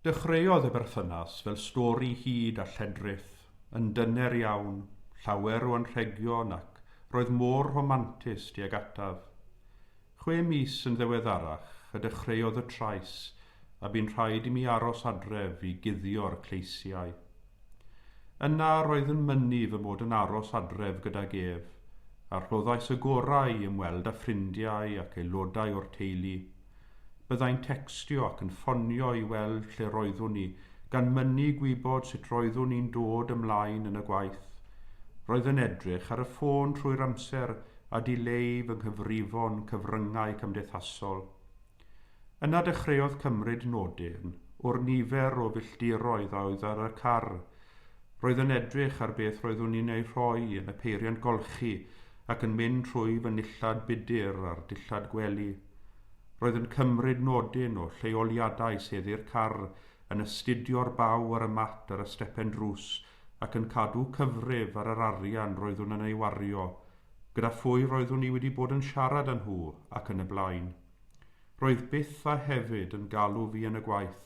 Dechreuodd y berthynas fel stori hud a lledrith, yn dyner iawn, llawer o anrhegion ac roedd mor rhomantus tuag ataf. Chwe mis yn ddiweddarach y dechreuodd y trais a bu'n rhaid i mi aros adref i guddio'r cleisiau. Yna roedd yn mynnu fy mod yn aros adref gydag ef, a rhoddais y gorau i ymweld â ffrindiau ac aelodau o'r teulu. Byddai'n tecstio ac yn ffonio i weld lle roeddwn i, gan mynnu gwybod sut roeddwn i'n dod ymlaen yn y gwaith. Roedd yn edrych ar y ffôn trwy'r amser a dileu fy nghyfrifon cyfryngau cymdeithasol. Yna dechreuodd cymryd nodyn o'r nifer o filltiroedd a oedd ar y car. Roedd yn edrych ar beth roeddwn i'n ei rhoi yn y peiriant golchi ac yn mynd trwy fy nillad budr a'r dillad gwely. Roedd yn cymryd nodyn o lleoliadau seddi'r car, yn astudio'r baw ar y mat ar y stepen drws ac yn cadw cyfrif ar yr arian roeddwn yn ei wario, gyda phwy roeddwn i wedi bod yn siarad â nhw ac yn y blaen. Roedd byth a hefyd yn galw fi yn y gwaith,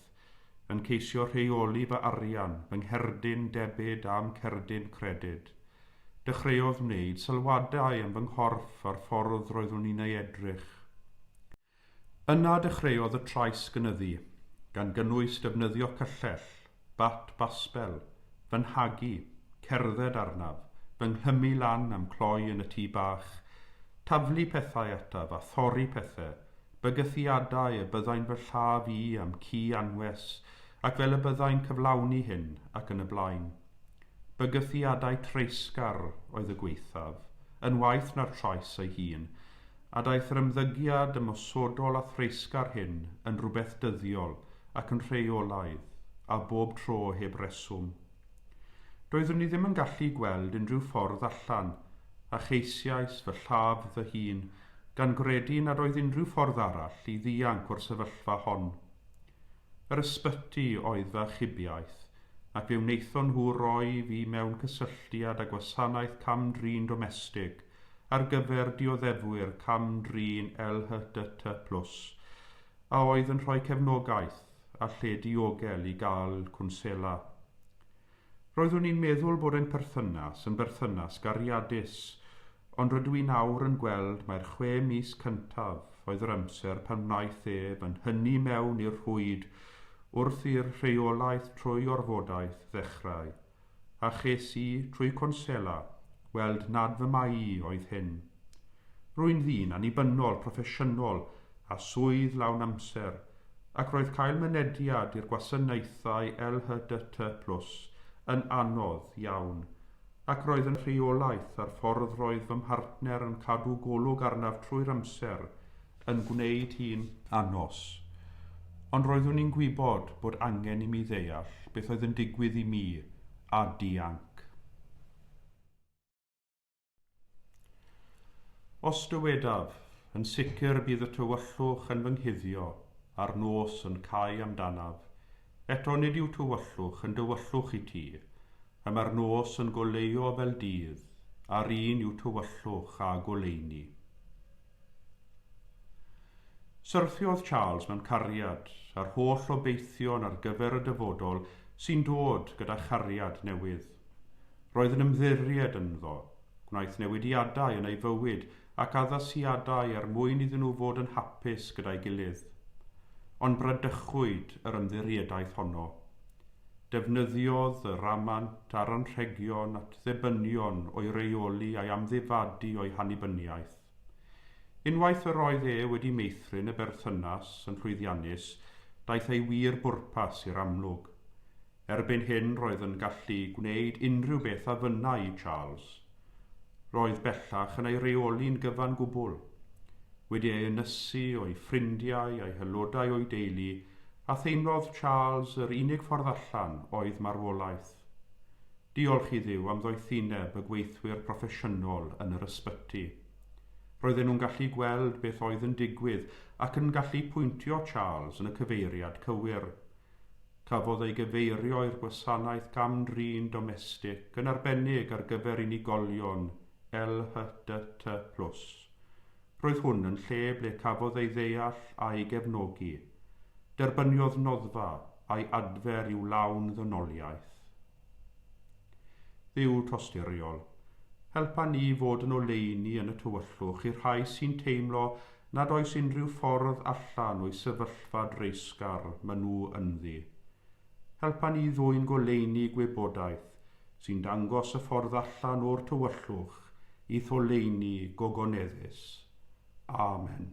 yn ceisio rheoli fy arian, fy ngherdyn debyd a'm cerdyn credyd. Dechreuodd wneud sylwadau am fy nghorff a'r ffordd roeddwn i'n ei edrych. Yna dechreuodd y trais gynyddu, gan gynnwys defnyddio cyllell, bat basbel, fy nhagu, cerdded arnaf, fy nghlymu lan a'm cloi yn y tŷ bach, taflu pethau ataf a thorri pethe, bygythiadau y byddai'n fy lladd i a'm ci anwes ac fel y byddai'n cyflawni hyn ac yn y blaen. Bygythiadau treisgar oedd y gwaethaf, yn waeth na'r trais ei hun, a daeth yr ymddygiad ymosodol a threisgar hyn yn rhywbeth dyddiol ac yn rheolaidd, a bob tro heb reswm. Doeddwn i ddim yn gallu gweld unrhyw ffordd allan, a cheisiais fy lladd fy hun, gan gredu nad oedd unrhyw ffordd arall i ddianc o'r sefyllfa hon. Yr ysbyty oedd fy achubiaeth, ac fe wnaethon nhw roi fi mewn cysylltiad â gwasanaeth cam-drin domestig, ar gyfer dioddefwyr cam-drin LHDT Plus a oedd yn rhoi cefnogaeth a lle diogel i gael cwnsela. Roeddwn i'n meddwl bod ein perthynas yn berthynas gariadus, ond rydw i nawr yn gweld mai'r chwe mis cyntaf oedd yr amser pan wnaeth ef yn hynny mewn i'r rhwyd wrth i'r rheolaeth trwy orfodaeth ddechrau. a ches i, trwy cwnsela, weld nad fy mai i oedd hyn. Rwy'n ddyn annibynnol, proffesiynol, â swydd lawn amser, ac roedd cael mynediad i'r gwasanaethau LHDT plus yn anodd iawn, ac roedd yn rheolaeth ar ffordd roedd fy mhartner yn cadw golwg arnaf trwy'r amser, yn gwneud hi'n anos. Ond roeddwn i'n gwybod bod angen i mi ddeall beth oedd yn digwydd i mi a dianc. Os dywedaf, yn sicr y bydd y tywyllwch yn fy nghuddio a'r nos yn cau amdanaf. Eto nid yw tywyllwch yn dywyllwch i ti. Y mae'r nos yn goleuo fel dydd, a'r un yw tywyllwch a goleuni. Syrthiodd Charles mewn cariad â'r holl obeithion ar gyfer y dyfodol sy'n dod gyda chariad newydd. Roedd yn ymddiried ynddo, gwnaeth newidiadau yn ei fywyd ac addasiadau er mwyn iddyn nhw fod yn hapus gyda'i gilydd. Ond bradychwyd yr ymddiriedaeth honno. Defnyddiodd y ramant a'r anrhegion at ddibynion o'i reoli a'i amddifadu o'i hannibyniaeth. Unwaith yr oedd e wedi meithrin y berthynas yn llwyddiannus, daeth ei wir bwrpas i'r amlwg. Erbyn hyn roedd yn gallu gwneud unrhyw beth a fynnai i Charles. Roedd bellach yn ei reoli'n gyfan gwbl. Wedi ei ynysu o'i ffrindiau a'i haelodau o'i deulu, a theimlodd Charles yr unig ffordd allan oedd marwolaeth. Diolch i Dduw am ddoethineb y gweithwyr proffesiynol yn yr ysbyty. Roedden nhw'n gallu gweld beth oedd yn digwydd ac yn gallu pwyntio Charles yn y cyfeiriad cywir. Cafodd ei gyfeirio i'r gwasanaeth gam-drin domestig yn arbennig ar gyfer unigolion LHDT plus. Roedd hwn yn lle ble cafodd ei ddeall a'i gefnogi. Derbyniodd noddfa a'i adfer i'w lawn ddynoliaeth. Dduw tosturiol, helpa ni i fod yn oleuni yn y tywyllwch i'r rhai sy'n teimlo nad oes unrhyw ffordd allan o'u sefyllfa dreisgar ma' nhw ynddi. Helpa ni ddwyn goleuni gwybodaeth sy'n dangos y ffordd allan o'r tywyllwch i'th oleuni gogoneddus. Amen.